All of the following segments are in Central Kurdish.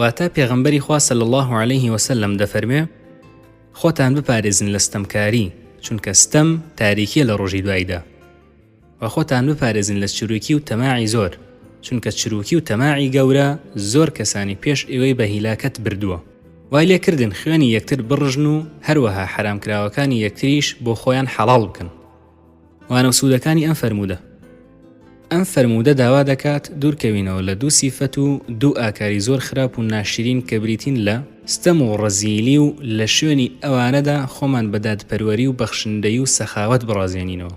واتە، پێغەمبەری خوا صلی اللە علیه وسلم دەفەرموێ، خۆتان بپارێزن لە ستەمکاری، چونکە ستەم تاریکیە لە ڕۆژی دوایدا، و خۆتان بپارێزن لە چروکی و تەماعی زۆر، چونکە چروکی و تەماعی گەورە زۆر کەسانی پێش ئێوەی بە هیلاکەت بردووە. وای لێ کردن خوێنی یەکتر بڕژن و هەروەها حەرامکراوەکانی یەکتریش بۆ خۆیان حەڵاڵ بکەن. وانە و سوودەکانی ئەم فەرموودە ئەم فەرموودە داوا دەکات دوورکەوینەوە لە دوو سیفەت و دوو ئاکاری زۆر خراپ و ناشرین کە بریتین لە ستەم و ڕەزیلی و لە شوێنی ئەوانەدا خۆمان بەداد پەروەری و بەخشندەی و سەخاوت بڕازێنینەوە.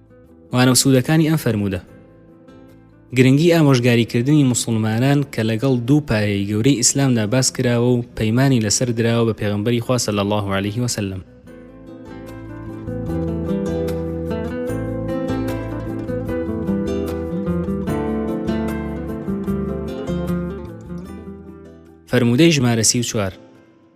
مانەوە سوودەکانی ئەم فەرموودە گرنگی ئامۆژگاریکردنی مسلمانان کە لەگەڵ دوو پایەی گەورەی ئیسلامدا باس کراوە و پەیمانی لەسەر دراوە بە پێغمبەری خوا صلی الله عليه وسلم فەرموودەی ژمارە سی و چوار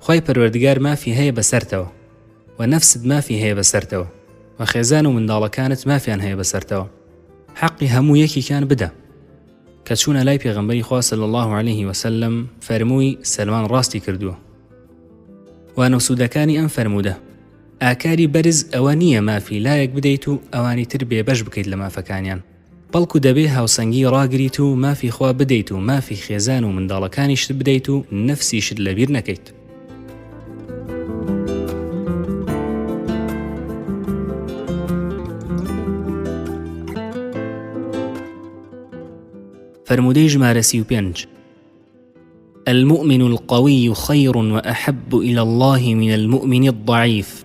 خوای پەروەردگار مافی هەیە بەسەرتەوە وە نەفست مافی هەیە بەسەرتەوە وە خێزان و منداڵەکانت مافیان هەیە بەسەرتەوە حەقی هەموو یەکیکان بدە کە چوونە لای پێغمبەری خوا صلی الله عليه وسلم فەرمووی سەلمان ڕاستی کردووە وانە سوودەکانی ئەم فەرموودە ئاکاری بەرز ئەوە نییە مافی لایەک بدەیت و ئەوانی تر بێبەش بکەیت لە مافەکانیان بەڵکو دەبێ هاوسەنگی ڕاگریت و مافی خوا بدەیت و مافی خێزان و منداڵەکانیشت بدەیت و نەفسیشت لەبیر نەکەیت. فەرموودەی ژمارە سی و پێنج المؤمن القوي خير وأحب إلى الله من المؤمن الضعيف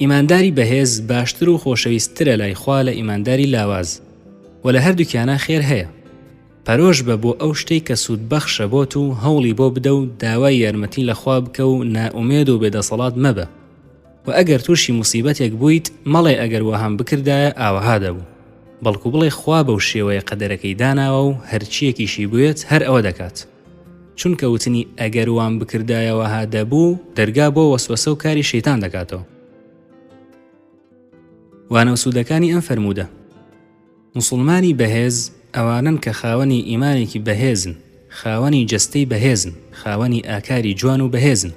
ئیمانداری بەهێز باشتر و خۆشەویست ترە لای خوا لە ئیمانداری لاواز وە لە هەردوکیانا خێر هەیە پەرۆش بە بۆ ئەو شتەی کە سود بەخشە بۆت و هەوڵی بۆ بدە و داوای یارمەتی لە خوا بکە و نا ئومێد و بێ دەسەڵات مەبە وە ئەگەر توشی موسیبەتێک بویت مەڵێ ئەگەر وەهام بکردایە ئاوەها دەبوو بەڵکو بڵێ خوا بەو شێوەیە قەدەرەکەی داناوە و هەرچیەکیشی بوێت هەر ئەوە دەکات. چونکە وتنی ئەگەر وام بکردایە وەها دەبوو دەرگا بۆ وەسوەسە و کاری شەیتان دەکاتەوە وانە و سوودەکانی ئەم فەرموودە مسلمانی بەهێز ئەوانن کە خاوەنی ئیمانێکی بەهێزن خاوەنی جەستەی بەهێزن خاوەنی ئاکاری جوان و بەهێزن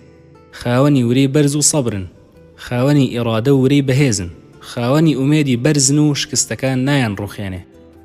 خاوەنی ورەی بەرز و سەبرن خاوەنی ئێڕادە ورەی بەهێزن خاوەنی ئومێدی بەرزن و شکستەکان نایان ڕوخێنێ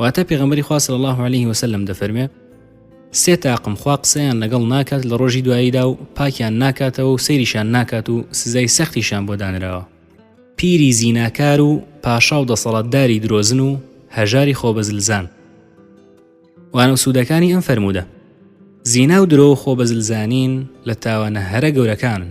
واتە پێغەمبەری خوا صلی الله علیه وسلم دەفەرمێ سێ تاقم خوا قسەیان لەگەڵ ناکات لە ڕۆژی دواییدا و پاکیان ناکاتەوە و سەیریشان ناکات و سزای سەختیشان بۆ دانراوە پیری زیناکار و پاشا و دەسەڵاتداری درۆزن و هەژاری خۆبەزلزان وانە سوودەکانی ئەم فەرموودە زینا و درۆ و خۆبەزلزانین لە تاوانە هەرە گەورەکانن